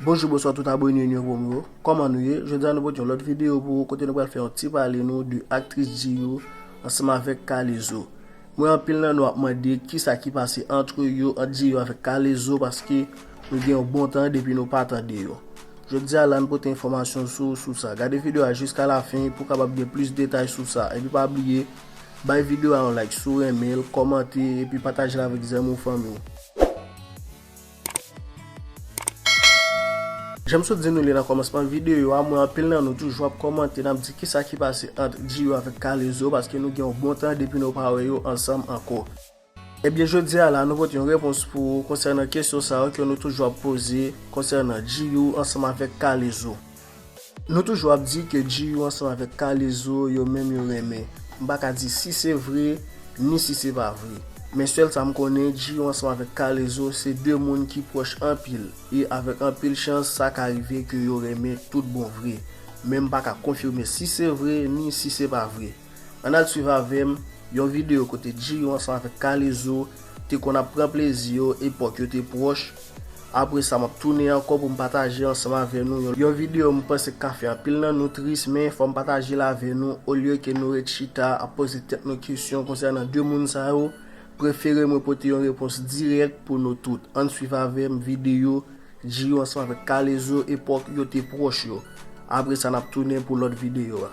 Bonjou bonswa tout abone nou yo pou mwen yo Koman nou ye? Jodi a nou pote yon lòt videyo pou ou kote nou pral fè yon ti pale nou de aktris Djiyou ansanm avèk Kalezo M wè anpil nan nou ap mande kisa ki pase antre yo ant Djiyou avèk Kalezo paske nou gen yon bon tan depi nou pa tande yo Jodi a la n pote enfòmasyon sou sou sa Gade videyo a jiska la fen pou w kapab gen plis detay sou sa epi pa bliye Bay video a yon like si w renmen l, kòmante epi pataje l avèk zanmi w fanmi w. Janm sot di nou li nan kòmansman video a, m wè anpil nan nou toujou ap kòmante nap di kisa ki pase ant Djiro avèk K-lezo paske nou gen yon bon tan depi nou pa wè yo ansanm ankò. Ebyen jodi a la nou pote yon repons pou ou konsènan kesyon sa yo ke nou toujou ap poze konsènan Djiyou ansanm avèk Kalezo. Nou toujou ap di ke Djiyou ansanm avèk Kalezo yo menm yo renmen. M pa ka di si se vre, ni si se pa vre. Men sèl sa m konnen Djiyou ansanm avèk Kalezo se 2 moun ki pwòch anpil e avèk anpil chans sa ka rive ke yo renmen tout bon vre. Men m pa ka konfime si se vre, ni si se pa vre. Ann al swiv avè m yon videyo kote Djiyou ansanm avèk Kalezo te konn ap pran plezi yo epòk yo te pwòch. Apre sa m ap tounen ankò pou m pataje ansanm avè nou yon videyo m panse k ka fè anpil nan nou tris men fò m pataje l avè nou olye ke nou ret chita ap poze tèt nou kesyon konsènan 2 moun sa yo prefere mwen pote yon repons dirèk pou nou tout ann swiv avè m videyo Djiyou ansanm avèk Kalezo epòk yo te pwòch yo apre sa n ap tounen pou lòt videyo a.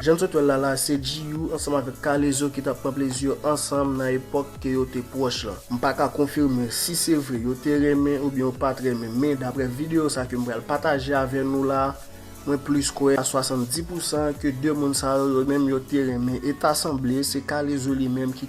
Jan n sot wè l la, la se Djiyou ansanm avèk Kalezo ki t ap pran plezi yo ansanm nan epòk ke yo te pwòch lan. M pa ka konfime si se vre yo te renmen oubyen yo pa t renmen men daprè videyo sa ke m pral pataje avè nou la, mwen plis kwè a 70 pousan ke 2 moun sa yo yo menm yo te renmen e ta sanble se Kalezo li menm ki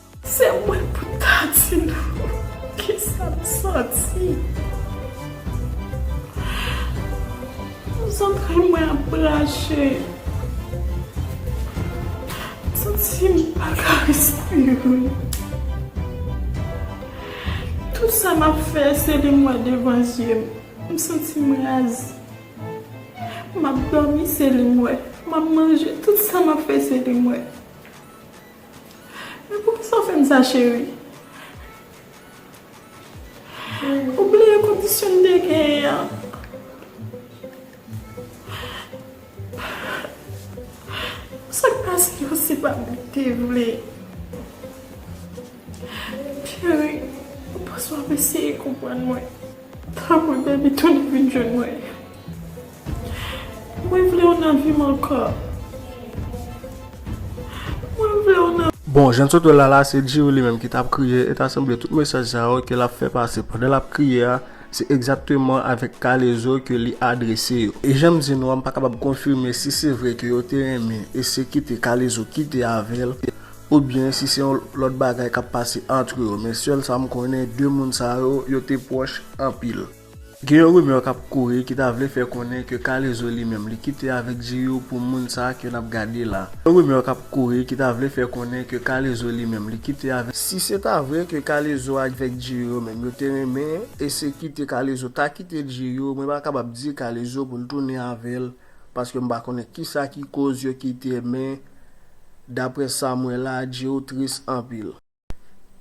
Se mwen pou ta di nou kisa m santi. Zantray mwen ap rache. M santi m pa ka respire. Tout sa m ap fè se li mwen devan zye m. M santi m raze. M ap domi se li mwen. M ap manje tout sa m ap fè se li mwen. Men poukisa w fè m sa cheri? Ou bliye kondisyon n te genyen an? Sa k pase yo se pa m ki te vle. Cheri, ou panse w ap eseye konprann mwen? Tanpri bebi tounen vin jwenn mwen. Mwen vle w nan vim ankò. Mwen vle w nan. Bon, jan n sot wè l la la, se Djirou li menm ki t ap kriye, e ta sanble tout mesaj sa yo ke l ap fè pase pandan l ap kriye a, se egzakteman avèk Kalezo ke li adrese yo. E jan m di nou a, m pa kapab konfime si se vre ke yo te renmen e se kite Kalezo kite avè l, oubyen si se yon lòt bagay k ap pase antre yo, men sèl sa m konnen, 2 moun sa yo, yo te pwòch anpil. Gen yon rumeur kap kouri ki ta vle fè konnen ke Kalezo li menm li kite avèk Djiyou pou moun sa ke nap gade la. Gen yon rumeur kap kouri ki ta vle fè konnen ke Kalezo li menm li kite avèk. Si se ta vre ke Kalezo avèk Djiyou yo menm yo te renmen e se kite Kalezo ta kite Djiyou mwen pa kapab di Kalezo poul tounen avèl paske mpa konnen kisa ki koz yo kite men daprè sam wè la Djiyou tris anpil.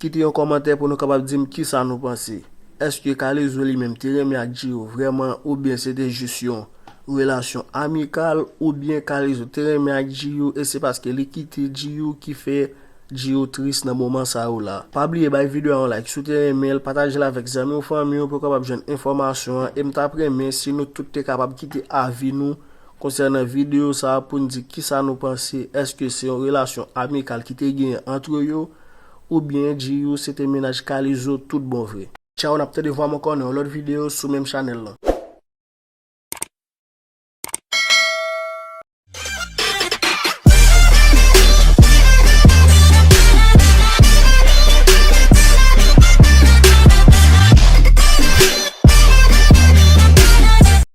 Kite yon kòmantè pou nou kapab di m kisa nou panse. Èske Kalezo li menm te renmen ak Djiro vrèman oubyen se te jis yon relasyon amikal oubyen Kalezo te renmen ak Djiyou e se paske li kite Djiyou ki fè Djiyou tris nan moman sa yo la. Pa bliye bay video a yon like si w te renmen l, patajel avèk zanmi w fanmi w pou yo kapab jwenn enfòmasyon an e m tap renmen si nou tout te kapab kite avi nou Konsènan videyo sa a pou n di kisa nou panse èske se yon relasyon amikal ki te genyen antre yo ou byen Djiyou se te mennaj Kalizo tout bon vre. Tchaw nap tande vwa mwen kò nan yon lòt videyo sou menm chanèl lan.